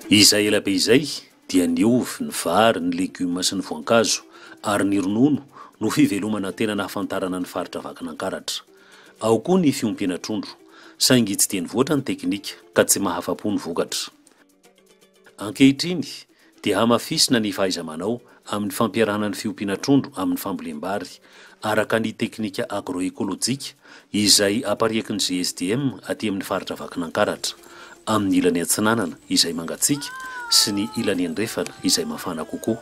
Izay ela be izay dia ny ovy, ny vary, ny legioma sy ny voankazo ary ny ronono no fivelomana tena nahafantarana ny faritra Vakinankaratra. Ao koa ny fiompiana trondro, saingy tsy dia nivoatra ny teknika ka tsy mahafa-po ny vokatra. Ankehitriny dia hamafisina ny fahaiza-manao amin'ny fampiarahana ny fiompiana trondro amin'ny fambolem-bary araka ny teknika agro-ekolojika izay apariaky ny GSDM aty amin'ny faritra Vakinankaratra, amin'ny ilany atsinanana izay mangatsiaka sy ny ilany andrefana izay mafana kokoa.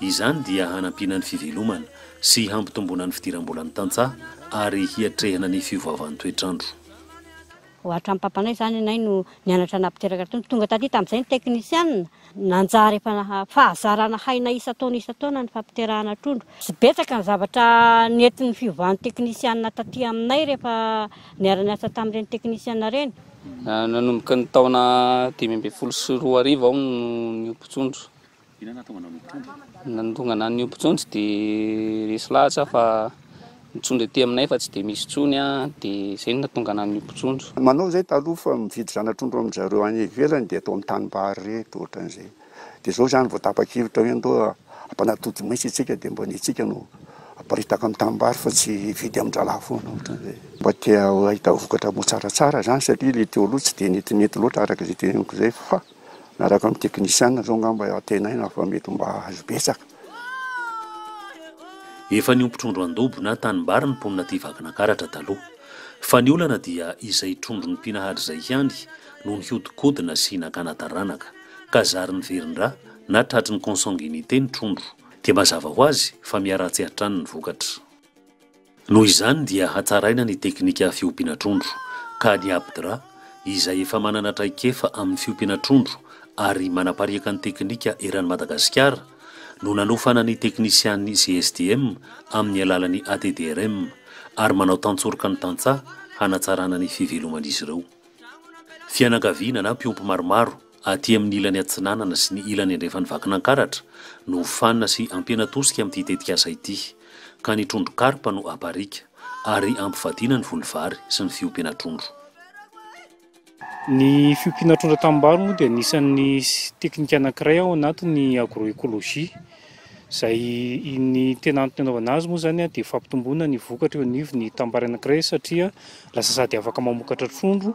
Izany dia hanampiana ny fivelomana sy hampitomboana ny fidiram-bolan'ny tantsaha ary hiatrehana ny fiovaovan'ny toetr'andro. Hoatran'ny papanay izany anay no nianatra nampiteraka tony. Tonga taty tamin'izay ny teknisianina. Nanjary efa fahazarana hainay isan-taona isan-taona ny fampiterahana trondro. Tsy betsaka ny zavatra nentin'ny fiovan'ny teknisianina taty aminay rehefa niara-niasa tamin'ireny teknisianina ireny. Nanomboka ny taona dimy ambin'ny folo sy roa arivo aho no niompy trondro. Inona no nahatonga anao nitondra? Ny nahatonga anah niompy intsony tsy dia resy lahatra aho fa ny trondro ety aminay efa tsy dia misy intsony dia izay no nahatonga anah niompy trondro. Manao izay taloha fa mividy zana-trondro amin-dry zareo any ivelany dia eto amin'ny tanimbary ireto ohatran'izay. Dia izao izany vao tapa-kevitra hoe andao hampanatody maitso isika dia mba ny antsika no haparitaka amin'ny tanimbary fa tsy hividy amin-drahalahy foana ohatran'izay. Mba te hahita vokatra moa tsaratsara izany satria ilay teo aloha tsy dia netinety loatra araka izay teneniko izay fa. Miaraka amin'ny teknisiana izao angamba antenaina fa mety mba hahazo betsaka. Efa niompy trondro an-dobo na tanimbary ny mponina aty Vakinankaratra taloha. Fa ny olana dia izay trondro nompiana hatrizay ihany no nihodinkodina sy nakana taranaka, ka zary niverin-dra na tratry ny consanguinité ny trondro. Dia mazava ho azy fa miharatsy hatrany ny vokatra. Noho izany dia hatsaraina ny teknika fiompiana trondro, ka ny APDRA, izay efa manana traikefa amin'ny fiompiana trondro ary manapariaka ny teknika eran'i Madagasikara, no nanofana ny teknisian'ny GSDM amin'ny alalan'ny ATDRM, ary manao tantsoroka ny tantsaha hanatsarana ny fiveloman'izy ireo. Fianakaviana na mpiompy maromaro. Aty amin'ny ilany atsinanana sy ny ilany andrefan'i Vakinankaratra no hofanina sy hampiana tosika amin'ity tetikasa ity, ka ny trondro karpa no hapariaka, ary hampivadiana ny voly vary sy ny fiompiana trondro. Ny fiompiana trondro an-tanimbary moa dia anisan'ny teknika anankiray ao anatin'ny agroecologie, izay ny tena antony anaovana azy moa izany dia fampitomboana ny vokatra eo anivon'ny tanimbary anankiray, satria lasa sady afaka mamokatra trondro,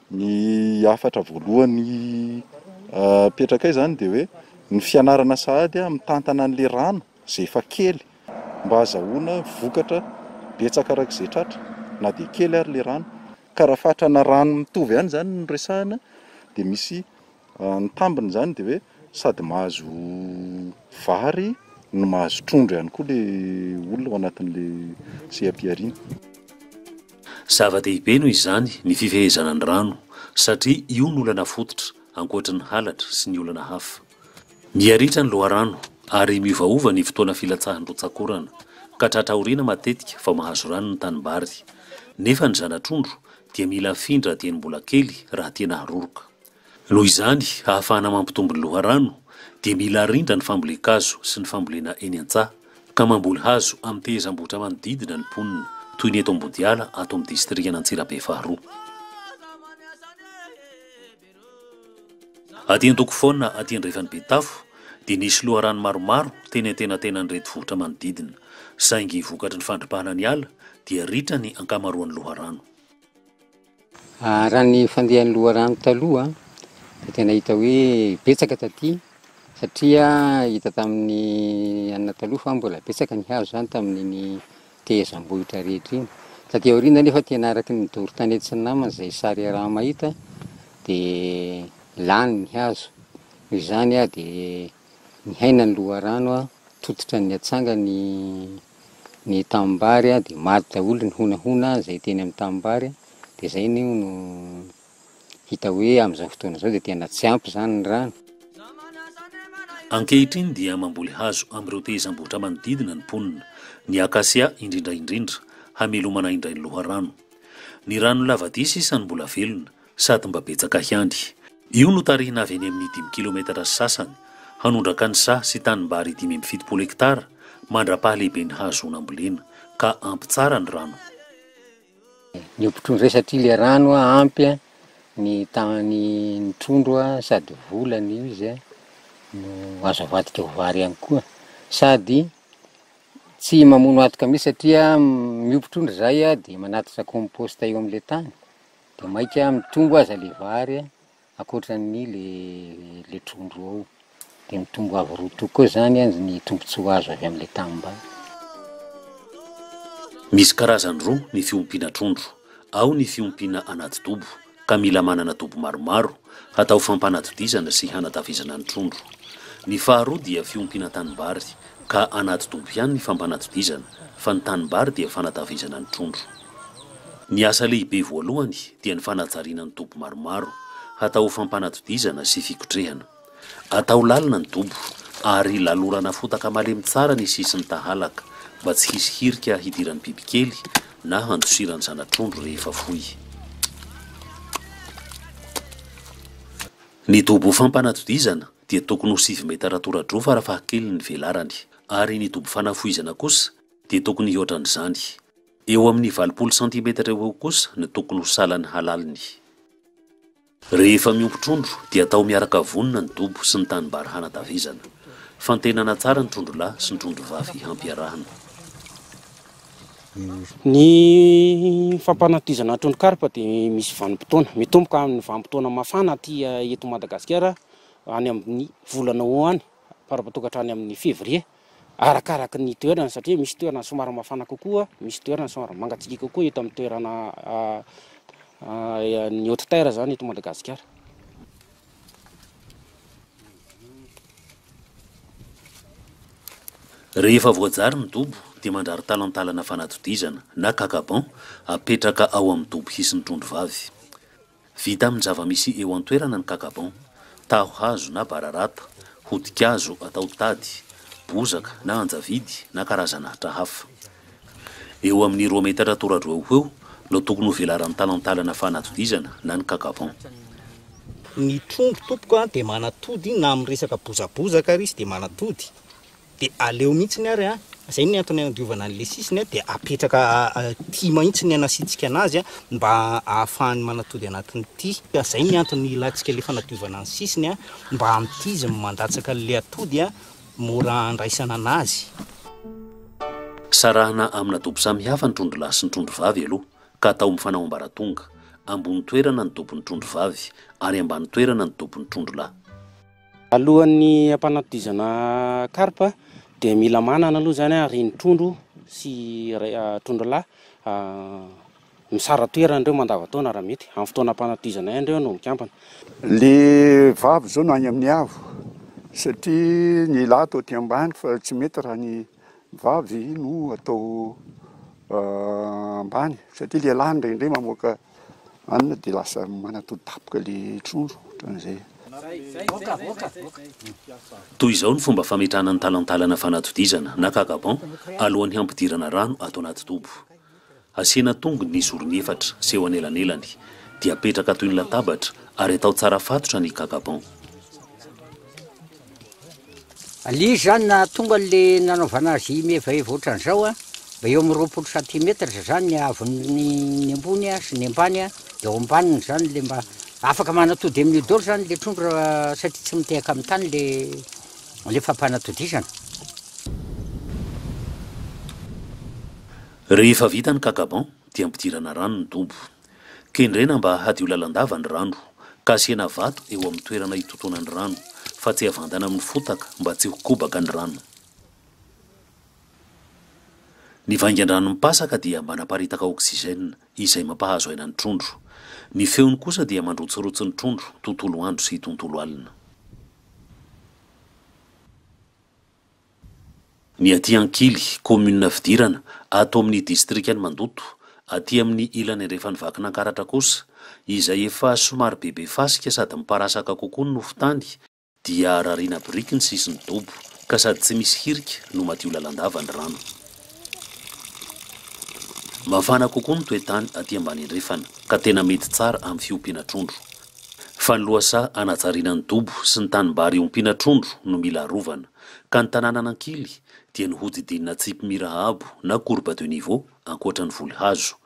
Ny hafatra voalohany apetrakay zany dia hoe ny fianarana sahady a mitantana an'le rano zay efa kely mba hazahoana vokatra betsaka arak'izay tratra na dia kely ary le rano ka raha fatrana rano mitovy ihany zany no resahana dia misy Ny tambiny izany dia hoe sady mahazo vary no mahazo trondro ihany koa ilay olona ao anatin'ilay seha-pihariana. Zava-dehibe noho izany ny fifehezana ny rano satria io no olana fototra, ankoatry ny halatra sy ny olana hafa. Miha-ritra ny loharano ary miovaova ny fotoana filatsahan'ny rotsak'orana ka tratra aoriana matetika vao mahazo rano ny tanimbary, nefa ny zana-trondro dia mila afindra dieny mbola kely raha tiana haroroka. Noho izany, ahafahana mampitombo ny loharano, dia mila arindra ny fambolen-kazo sy ny fambolena eny an-tsaha, ka mamboly hazo amin'ny tehezam-bohitra manodidina ny mponina, toy ny eto Ambodiala, ato amin'ny distrikan'Antsirabe faharoa. Aty Antokofona, aty andrefan'i Betafo, dia nisy loharano maromaro teny antenatenan'ireto vohitra manodidina, saingy vokatry ny fandripahana ny ala, dia ritra ny ankamaroan'ny loharano. Raha ny fandehan'ny loharano taloha dia tena hita hoe betsaka taty satria hita tamin'ny anona taloha fa mbola betsaka ny hazo izany tamin'iny tehezam-bohitra rehetra iny. Taty aoriana anefa tena araka ny doro tany aty tsy namana izay sary iaraha-mahita dia lany ny hazo. Noho izany dia. Nihaina ny loharano aho, tototra ny atsanga ny ny tanimbary a, dia maty daholo ny honahona izay teny amin'ny tanimbary, dia izay anie hono hita hoe amin'izao fotoana izao dia tena tsy ampy izany ny rano. Ankehitriny dia mamboly hazo amin'ireo tehezam-bohitra manodidina ny mponina, ny akasia indrindra indrindra, hamelomana indray ny loharano. Ny rano lava dia sisa no mbola velona, Sady mba betsaka hiandry. Io no tarihina avy eny amin'ny dimy kilometatra sy sasany, hanondraka ny saha sy tanimbary dimy amby fitopolo hektara mandra-pahalehiben'ny hahazoana ambolena, ka ampy tsara ny rano. Ny ompitron'izay satria le rano ampy ny tany ny trondro sady vola ny io izy no azo avadika ho vary ihany koa sady tsy mamono atoka mihintsy satria miompy trondro zay dia manatitra compost eo amle tany De maika mitombo aza le vary a, ankoatran'ny le le trondro ao, de mitombo avo roa toko koa zany an ny tombotsoa azo avy amle tanimbary. Misy karazany roa ny fiompiana trondro, ao ny fiompiana anaty dobo, ka mila manana dobo maromaro, hatao fampanatodizana sy hanatafizana ny trondro. Ny faharoa dia fiompiana tanimbary, ka hanatodimpo ihany ny fampanatodizana fa ny tanimbary dia fanatavizana ny trondro. Ny asa lehibe voalohany dia ny fanajariana ny dobo maromaro hatao ho fampanatodizana sy fikotrehana. Atao lalina ny dobo ary lalorana fotaka malemy tsara ny sisin'ny tahalaka mba tsy hisy hirika hidiran'ny bibikely na handosiran'ny zana-trondro rehefa foy. Ny dobo fampanatodizana dia tokony ho sivy metatra tora-droa farafahakeliny ny velarany ary ny dobo fanafohizana kosa dia tokony hihoatra an'izany. Eo amin'ny valopolo santimetatra eo ho eo kosa no tokony ho salan'ny halaliny. Rehefa miompy trondro dia atao miaraka vonona ny dobo sy ny tanimbary hanatavizana. Fantenana tsara ny trondro lahy sy ny trondro vavy hampiarahana. Ny fampanatizana ny trondro karpa dia misy vanim-potoana. Mitomboka amin'ny vanim-potoana mafana aty eto Madagasikara any amin'ny volana ho any par rapport toa hatrany amin'ny février arakaraky ny toerana satria misy toerana somary mafana kokoa, misy toerana somary mangatsiaka kokoa eto amin'ny toerana ny haute terre izany eto Madagasikara. Rehefa voajary ny dobo dia mandrary talantalana fanatodizana na kakaban apetraka ao amin'ny dobo hisy ny trondro vavy. Vita amin'ny zava-misy eo an-toerana ny kakaban, taho hazo na bararata, hodi-kazo atao tady, bozaka na anjavidy na karazan'ahitra hafa. Eo amin'ny roa metatra tora-droa eo ho eo no tokony ho velaran'ny talantalana fanatodizana na ny cacavon. Ny trondro tompoko dia manatody na amin'ny resaka bozabozaka ary izy dia manatody dia aleo mihitsiny ary an, izay no antony anadiovana an'ilay sisiny dia apetraka aty mahitsy ny anasiantsika anazy mba ahafahany manatody anatin'ity, izay ny antony ilantsika ilay fanadiovana ny sisiny mba amin'ity izy mandatsaka an'ilay atody mora handraisana an'azy. Sarahana amina dobo samy hafa ny trondro lahy sy ny trondro vavy aloha ka atao mifanao ambaratonga, ambony toerana ny dobon'ny trondro vavy ary ambany toerana ny dobon'ny trondro lahy. Alohan'ny hampanatodizana karpa dia mila manana aloha izany ary ny trondro sy trondro lahy. Misara toerana ireo mandavantaona raha mety. Amin'ny fotoanam-panatizana ihany ireo no mikambana. Le vava izao no any amin'ny avo satria ny lahy atao aty ambany fa tsy mety raha ny vavy no atao ambany satria le lahy indraindray mamoaka anona de lasa manatody dapoka le trondro ohatran'izay. Toy izao ny fomba fametrahana ny talantalana fanatodizana na cacabon alohan'ny hampidirana rano ato anaty dobo. Asiana tongony ny zorony efatra sy eo anelanelany, dia apetraka toy ny latabatra ary atao tsara fatotra ny kakaban. Alio izany na tonga le nanaovana azy mievaeva otran'izao a, mba eo amin'ny roapolo centimetres zany ny haavon'ny ny ambony a sy ny ambany a, de ao ambaniny zany le mba afaka manatody amin'io daoly zany le trondro raha satria tsy mitehaka amin'ny tany le le fampanatodizana. Rehefa vita ny kakaban dia ampidirana rano ny dobo. Kendrena mba hadio lalandava ny rano ka asiana vato eo amin'ny toerana hitotoana ny rano fa tsy avandana amin'ny fotaka mba tsy ho kobaka ny rano. Ny vaingan-drano mipasaka dia manaparitaka oxygène izay mampahazo aina ny trondro. Ny feony kosa dia mandrotsirotsy ny trondro tontolo andro sy tontolo alina. Ny aty Ankily, kaominina fidirana, ato amin'ny distrikan'i Mandoto, aty amin'ny ilany andrefan'i Vakinankaratra kosa, izay efa somary bebe fasika sady miparasaka kokoa ny nofon-tany, dia rariana biriky ny sisin'ny dobo, ka sady tsy misy hirika no madio lalandava ny rano. Mafana kokoa ny toe-tany aty ambany andrefana, ka tena mety tsara amin'ny fiompiana trondro. Fa ny lohasaha hanajariana ny dobo sy ny tanimbary iompiana trondro no mila arovana, ka ny tanàna nankily dia ny hodidinina tsipy mira abo na courbe de niveau ankoatra ny voly hazo,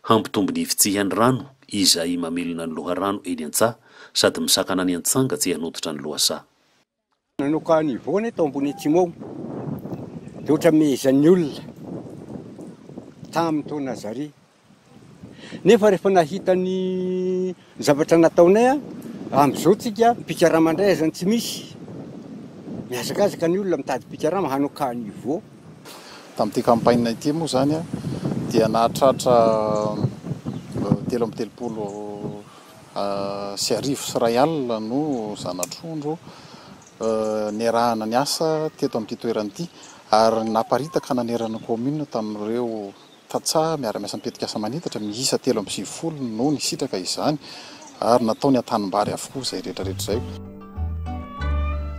hampitombo ny fitsihan'ny rano izay mamelona ny loharano eny an-tsaha sady misakana ny antsanga tsy hanototra ny lohasaha. Nanoka an'i Yvonne tao Ambohiniatsimo ao dia ohatramehezan'ny olona tamin'ny taona zary. Nefa rehefa nahita ny zavatra nataonay amin'izao tsika mpikarama indray aza tsy misy. Mihazakazaka ny olona mitady mpikarama hanoka an'i Yvonne. Tamin'ity campagne ity moa izany dia nahatratra telo amby telopolo. sy arivo sy iray alina no zana-trondro niarahana niasa teto amin'ity toerana ity ary naparitaka nanerana ny kaominina tamin'ireo tantsaha miara-miasa mitetikasa manitatra miisa telo amby sivifolo no nisitraka izany ary natao ny an-tanimbary avokoa izay rehetrarehetra izay.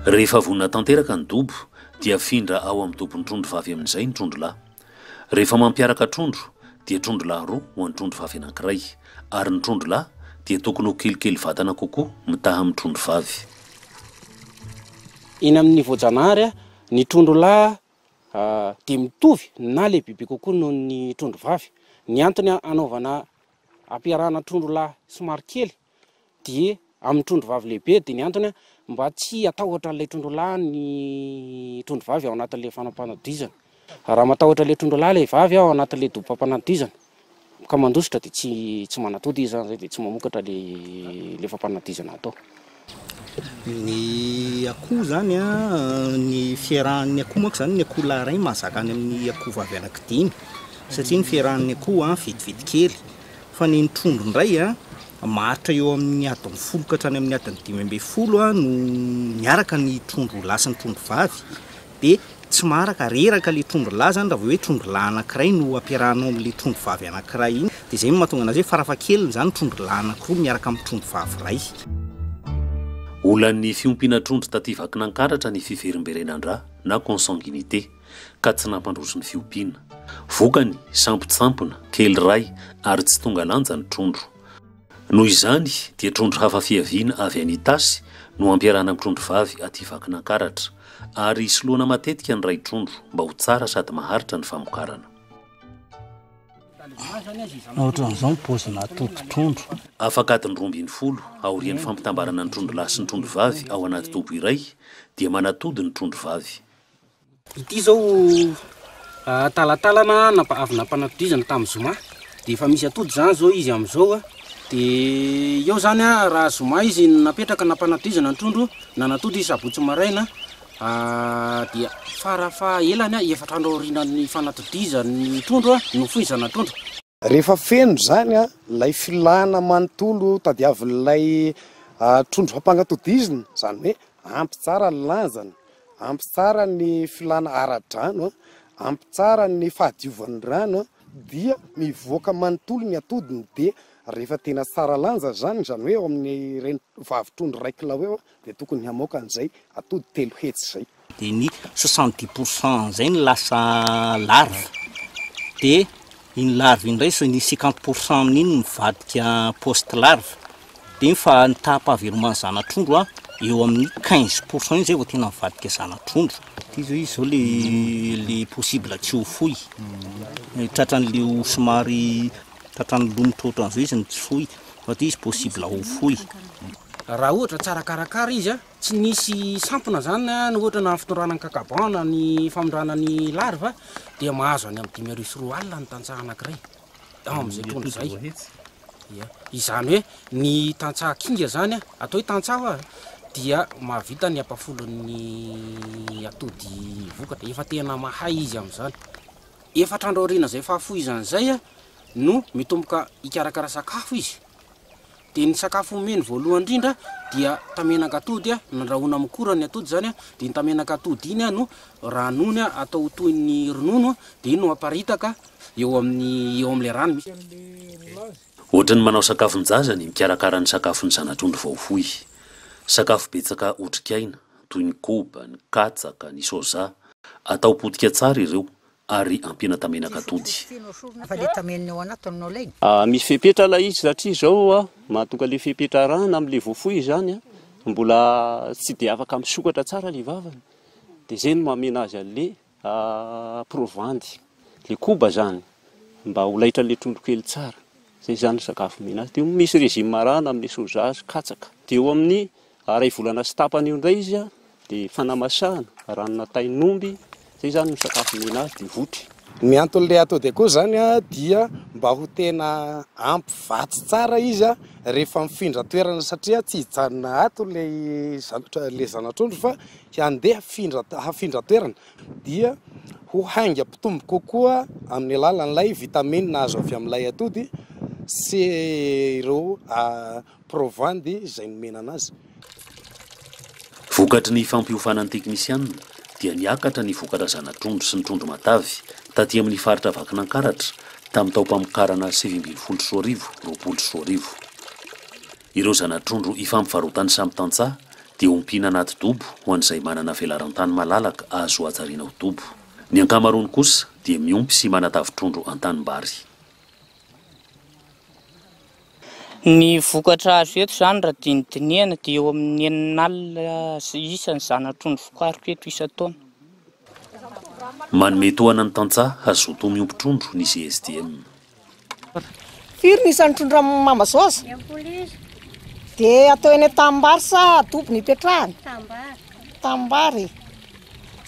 Rehefa vonona tanteraka ny dobo dia afindra ao amin'ny dobon-trondro vavy amin'izay ny trondro lahy. Rehefa mampiaraka trondro dia trondro lahy roa ho an'ny trondro vavy anankiray, ary ny trondro lahy dia tokony ho kelikely vatana kokoa mitaha amin'ny trondro vavy. Eny amin'ny voajanahary, ny trondro lahy dia mitovy na lehibebe kokoa noho ny trondro vavy. Ny antony hanaovana hampiarahana trondro lahy somary kely dia amin'ny trondro vavy lehibe dia ny antony mba tsy hatahotra an'ilay trondro lahy ny trondro vavy ao anatin'ilay fanampanadizana raha matahotra ilay trondro lahy ilay vavy ao anatin'ilay dobam-panadizana ka mandositra dia tsy tsy manatody izy izany dia tsy mamokatra ilay ilay fampanadizana atao ny akoho izany a ny fiarahan'ny akoho manko izany ny akoho lahy iray mahazaka any amin'ny akoho vavy anaky dimy satria ny fiarahan'ny akoho a vitivitikely Fa ny trondro indray a, maharitra eo amin'ny adiny folo ka hatrany amin'ny adiny dimy ambin'ny folo a no miaraka ny trondro lahy sy ny trondro vavy, dia tsy maharaka, reraka ilay trondro lahy izany raha vao hoe trondro lahy anankiray no ampiarahanao amin'ilay trondro vavy anankiray iny, dia izay no mahatonga an'azy hoe farafahakeliny izany trondro lahy anankiroa miaraka amin'ny trondro vavy iray. Olan'ny fiompiana trondro taty Vakinankaratra ny fiverimberenan-dra na consanguinité. ka tsy nampandroso ny fiompiana. Vokany, sampotsampona, kely ray ary tsy tonga lanja ny trondro. Noho izany dia trondro hafa fiaviana avy any Itasy no ampiarahana amin'ny trondro vavy aty Vakinankaratra ary soloana matetika ny ray trondro mba ho tsara sady maharitra ny famokarana. Afaka adiny roa ambin'ny folo aorian'ny fampitambarana ny trondro lahy sy ny trondro vavy ao anaty dobo iray dia manatody ny trondro vavy. Ity izao talantalana avy nampanatodizana tamin'ny zoma dia efa misy atody izany izao izy amin'izao a, dia eo izany a raha zoma izy no napetraka nampanatodizana ny trondro nanatody izy sabotsy maraina dia fara fahaelany efatra andro aorianan'ny fanatodizan'ny trondro no foy ny zanatrondro. Rehefa feno izany ilay filana manontolo tadiavin'ilay trondro fampangatodizina, izany hoe ampy tsara ny lanjany, ampy tsara ny filana ara-drano, ampy tsara ny fahadiovan'ny rano, dia mivoaka manontolo ny atodiny, dia rehefa tena tsara lanja izany, izany hoe eo amin'ireny vavitrondro iray kilao eo, Dia tokony hamoaka an'izay atody telo hetsy izay. Dia ny soixante dix pour cent izay no lasa larve. Dia iny larve iny indray, ny cinquante pour cent amin'iny mivadika post larve. Dia ny fa ny taham-pahaveloman'ny zana-trondro a, eo amin'ny quinze pour cent iny izay vao tena mivadika zana-trondro. Dia izao izy izao le le possible tsy ho foy. Tratran'ilay ho somary tratran'ny lonitra ohatran'izao izy no tsy foy. Fa dia izy possible ho foy. Raha ohatra tsara karakara izy, tsy nisy sampona izany ny ohatra na ny fitondrana ny kakaban na ny famindrana ny larva dia mahazo any amin'ny dimy arivo sy roa alina ny tantsaha anankiray ao amin'izay trondro izay. Ia. Izany hoe ny tantsaha kinga izany, atao hoe tantsaha ho'a, dia mahavita ny ampafolon'ny atody vokatra. Efa tena mahay izy amin'izany. Efatra andro aorian'izay fahafohizany izay no mitomboka hikarakara sakafo izy. Dia ny sakafo omeny voalohany indrindra dia tamenak'atody nandrahoina amin'ny kora ny atody izany, dia iny tamenak'atody iny no ranony atao toy ny ronono dia iny no aparitaka eo amin'ny eo amin'ilay rano misy. Ohatry ny manao sakafon-jaza ny mikarakara ny sakafon'ny zana-trondro vao foy. Sakafo betsaka otrikaina, toy ny koba, ny katsaka, ny soja. Atao potika tsara ireo, ary ampiana tamenak'atody. Misy fepetra ilay izy satria izao mahatonga ilay fepetra arahana amin'ilay voafoy izany an, mbola tsy dia afaka misokatra tsara ilay vavany, dia izay no mamena azy an'ilay provandy, ilay koba izany, mba ho laitran'ilay trondro kely tsara, izay izany ny sakafo omena azy, dia misy régime arahana amin'ny soja sy katsaka, dia eo amin'ny Iray volana sy tapany eo indray izy dia fanamasahana, ranona tain'omby, izay izany no sakafo omena azy dia votry. Ny anton'ilay atao dia koa izany dia mba ho tena ampy vatsy tsara izy rehefa mifindra toerana satria tsy hijanona ato ilay ilay zanatrondro fa handeha hifindra hafindra toerana dia ho haingam-pitombo kokoa amin'ny alalan'ilay vitamine azo avy amin'ilay atody sy ireo Provany dia izay nomena anazy. Vokatry ny fampiofanan'ny teknisianina dia niakatra ny vokatra zana-trondro sy ny trondro matavy taty amin'ny faritra Vakinankaratra tamin'ny taom-pamokarana sivy ambin'ny folo sy roa arivo, roapolo sy roa arivo. Ireo zana-trondro ifampivarotan'ny samy tantsaha dia ompiana anaty dobo ho an'izay manana velaran-tany malalaka azo hajariana ho dobo. Ny ankamaroany kosa dia miompy sy manatavy trondro an-tanimbary. Ny vokatra azo eto izany raha dinidinihana dia eo amin'ny enina alina isa ny zana-trondro vokariko eto isan-taona. Manome tohana ny tantsaha hazoto miompy trondro ny GSDM. Firy ny isan'ny trondro amin'ny mamba zao aza? Impolo isa. Dia atao eny an-tanimbary sa adobo no ipetrahany? Tanimbary. Tanimbary e.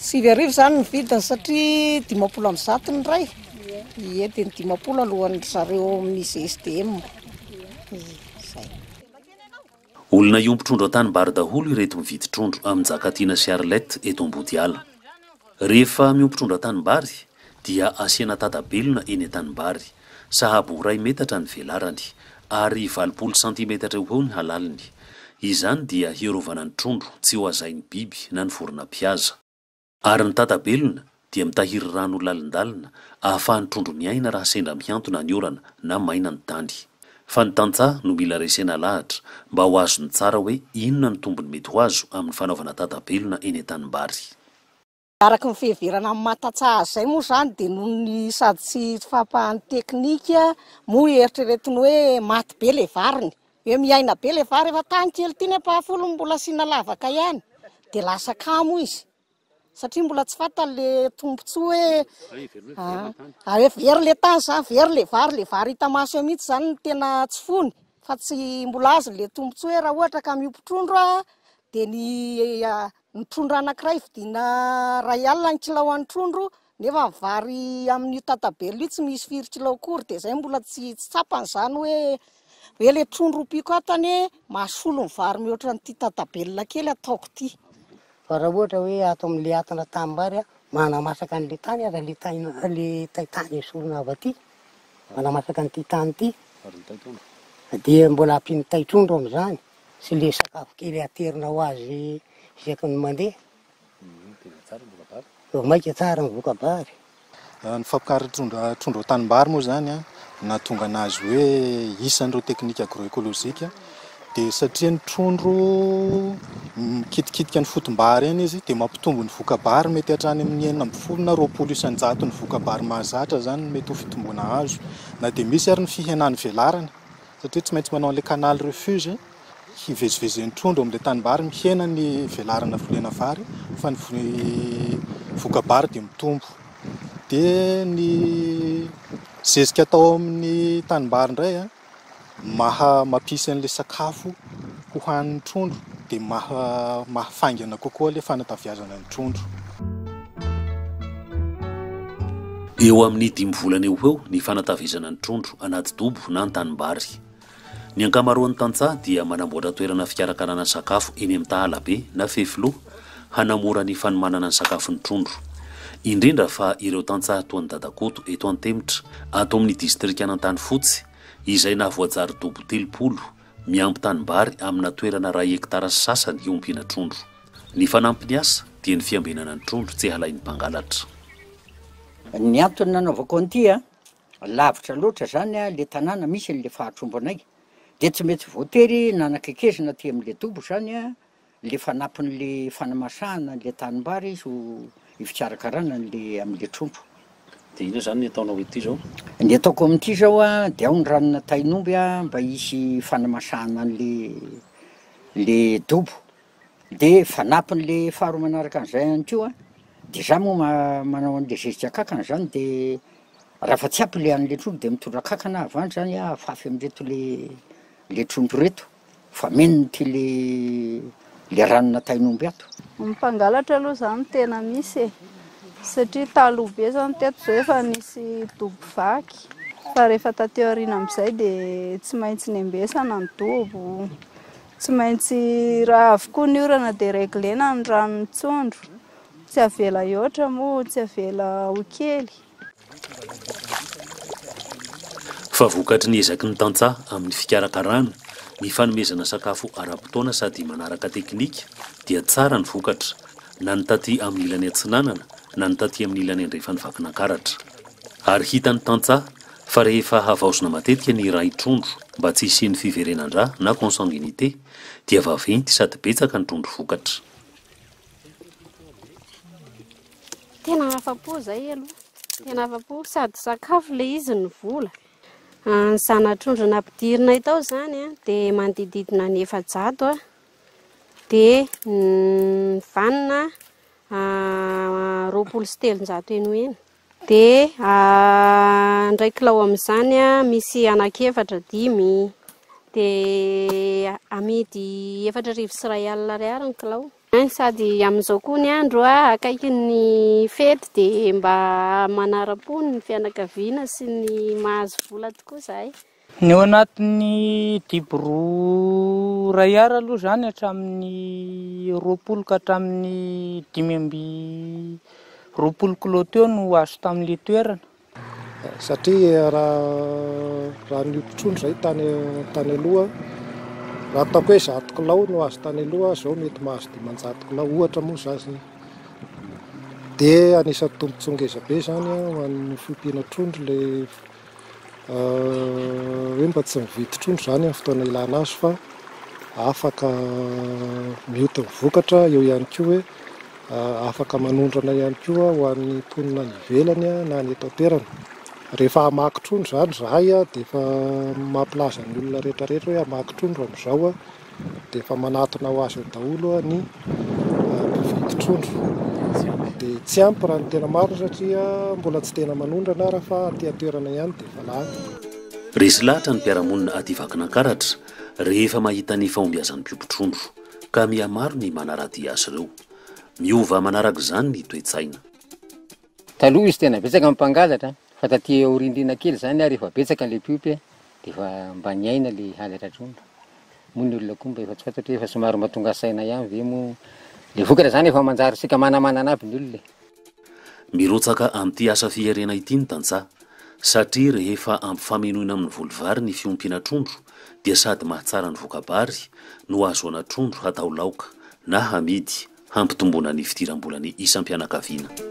Sivy arivo izany ny vidiny satria dimampolo amby zato ny iray, ie dia ny dimampolo alohan'ny ry zareo amin'ny GSDM, izay. Olona hiompy trondro an-tanimbary daholo ireto mividy trondro amin'i Njakatiana sy Arlette eto Ambodiala. Rehefa miompy trondro an-tanimbary, dia asiana tata-belona eny an-tanimbary, sahabo ho iray metatra ny velarany, ary valopolo santimetatra eo ho eo ny halaliny. Izany dia hiarovana ny trondro tsy ho hazain'ny biby na ny vorona mpihaza. Ary ny tata-belona dia mitahiry rano ho lalindalina ahafahan'ny trondro miaina raha sendra mihantona ny orana na maina ny tany. Fa ny tantsaha no mila resena alahatra mba ho azony tsara hoe inona ny tombony mety ho azo amin'ny fanaovana tata-belona eny an-tanimbary. Araka ny fiheverana amin'ny maha tantsaha azy izay moa izany dia noho ny sady tsy fahampahan'ny teknika moa eritreretiny hoe maty be ilay variny, hoe miaina be ilay vary efa tany kely ity nefa afolo no mbola asiana lavaka ihany dia lasa kamo izy satria mbola tsy fantany ilay tombontsoa hoe a hoe very ilay tany izany, very ilay vary, ilay vary hita maso eo mihitsy izany no tena tsy fony fa tsy mbola azony ilay tombontsoa hoe raha ohatra ka miompy trondro aho dia ny Ny trondro anankiray vidiana iray alina ny kilao an'ny trondro nefa ny vary amin'io tatabelona io tsy misy firy kilao akory dia izay mbola tsy tsy tsapany izany hoe hoe ilay trondro ompiako ato anie mahasolo ny vary mihoatra an'ity tatabelona kely ataoko ity. Fa raha ohatra hoe ato amin'ilay atina tanimbary manamasaka an'ilay tany aza ilay tay ilay tay tany esorina avy aty manamasaka an'ity tany ity dia mbola ampian'ny tay trondro amin'izany. Sy le sakafo kely aterina ho azy isaky ny mandeha. Tena tsara ny voka-bary. Vao maika tsara ny voka-bary. Ny fampiakaran'ny trondro trondro an-tanimbary moa izany an, nahatonga anazy hoe isan'ireo teknika agro-ekolojika dia satria ny trondro mikitikitika ny fotom-bary eny izy dia mampitombo ny voka-bary mety hatrany amin'ny enina ambin'ny folo na roapolo isan-jato ny voka-bary mahazatra izany no mety ho fitomboana azo na dia misy ary ny fihenan'ny velarana Satria tsy maintsy manao an'ilay canal refuge hivezivezen'ny trondro amin'ilay tanimbary, mihena ny velarana volena vary fa ny voka-bary dia mitombo. Dia ny zezika atao amin'ny tanimbary indray maha-mampisy an'ilay sakafo. Ho hanin'ny trondro dia maha maha faingana kokoa ilay fanataviazana ny trondro. Eo amin'ny dimy volana eo ho eo ny fanataviazana ny trondro anaty dobo na an-tanimbary. Ny ankamaroan'ny tantsaha dia manamboatra toerana fikarakarana sakafo eny amin'ny tahalabe na fefiloha hanamora ny fanomanana ny sakafon'ny trondro. Indrindra fa ireo tantsaha toa an'i Dadakoto eto Antemitra ato amin'ny distrikan'Antanifotsy izay nahavoajary dobo telopolo Miampy tanimbary amina toerana iray hektara sy sasany hiompiana trondro. Ny fanampin'ny asa dia ny fiambenana ny trondro tsy halain'ny mpangalatra. Ny antony nanaovako an'ity an, lavitra loatra zany le tanàna misy an'le fahatrombo anay, de tsy mety voatery nanakaikezina aty am'le dobo zany an, le fanampiny le fanamasahana anle tanimbary izy ho ifikarakarana anle amle trompo. Dia inona izany ny ataonao ety izao? Ny ataoko amin'ity izao a, dia ao ny ranona tain'omby a, mba hisy fanamasahana an'le le dobo. Dia fanampiny le faharoa manaraka an'izay ihany koa, dia za moa ma- manao an'le zezika kankana zany dia raha fa tsy ampy le an'le trompo dia mitondra kankana aho avy any zany a, hafafy amin'ireto le le trompo ireto. Fa mino ity le le ranona tain'omby ato. Ny mpangalatra aloha zany no tena misy e, satria taloha be zany teto zao efa nisy dobo vaky, fa rehefa taty aoriana amizay de tsy maintsy nembesana ny dobo, tsy maintsy raha avy koa ny orana de reglena ny ranon'ny tsondro, tsy avela hihoatra moa tsy avela ho kely. Fa vokatry ny ezaky ny tantsaha amin'ny fikarakarana, ny fanomezana sakafo ara-potoana sady manaraka teknika dia tsara ny vokatra, na ny taty amin'ny ilany atsinanana na ny taty amin'ny ilany andrefan'i Vakinakaratra. Ary hitan'ny tantsaha fa rehefa havaozina matetika ny iray trondro mba tsy hisian'ny fiverenan-dra na consanguinité dia vaventy sady betsaka ny trondro vokatra. Tena afa-po izay aloha. Tena afa-po sady sakafo ilay izy ny vola. Ah, ny zana-trondro nampidirinay tao izany ah, dia manodididina ny efajato ah. Dia ny vanona ah, roapolo sy telonjato eny ho eny. Dia ah, indray kilao amin'izany ah, misy anankiefatra dimy. Dia amidy efatra arivo sy iray alina ariary ny kilao. An, sady amin'izao koa ny andro a, akaiky ny fety dia mba manaram-po ny fianakaviana sy ny mahazo vola tokoa izahay. Ny ao anatin'ny dibo roa iray Ar aloha izany hatramin'ny roapolo ka hatramin'ny dimy amby roapolo kilao teo no azo tamin'ilay toerana. Satria raha ny mpitrongy izay tany aloha, raha ataoko hoe zato kilao no azo tany aloha, izao mety mahazo dimanjato kilao, ohatra moa za zay. Dia anisan'ny tombontsoa ngeza be izany ho an'ny fiompiana trondro ilay hoe mba tsy mividy trondro izany amin'ny fotoana ilana azy fa afaka mioty ny vokatra, eo ihany koa hoe. Afaka manondrana ihany koa ho an'ny mponina any ivelany na ny eto an-toerana. Rehefa hamaky trondro izany izahay dia efa mampilaza ny olona rehetrarehetra hoe hamaky trondro amin'izao dia efa manatona ho azy eo daholo ny mpividy trondro. Dia tsy ampy raha ny tena marina satria mbola tsy tena manondrana ary fa aty an-toerana ihany dia efa lany. Resy lahatra ny mpiara-monina aty Vakinankaratra rehefa mahita ny fahombiazan'ny mpiompy trondro. ka mihamaro ny manaradia azy ireo. Miova manaraka izany ny toe-tsaina. Taloha izy tena betsaka ny mpangalatra fa taty aoriandriana kely izany ary efa betsaka ilay mpiompy dia efa mba niaina ilay halatra trondro. Moa ny olona koa mba efa tsy fantatro hoe efa somary mba tonga saina ihany ve moa ilay vokatra izany efa manjary saika manamanana aby ny olona e. Mirotsaka amin'ity asa fierena ity ny tantsaha, satria rehefa ampifamenoina amin'ny voly vary ny fiompiana trondro dia sady mahatsara ny voka-bary no hahazoana trondro hatao laoka na hamidy hampitomboana ny fidiram-bolan'ny isam-pianakaviana.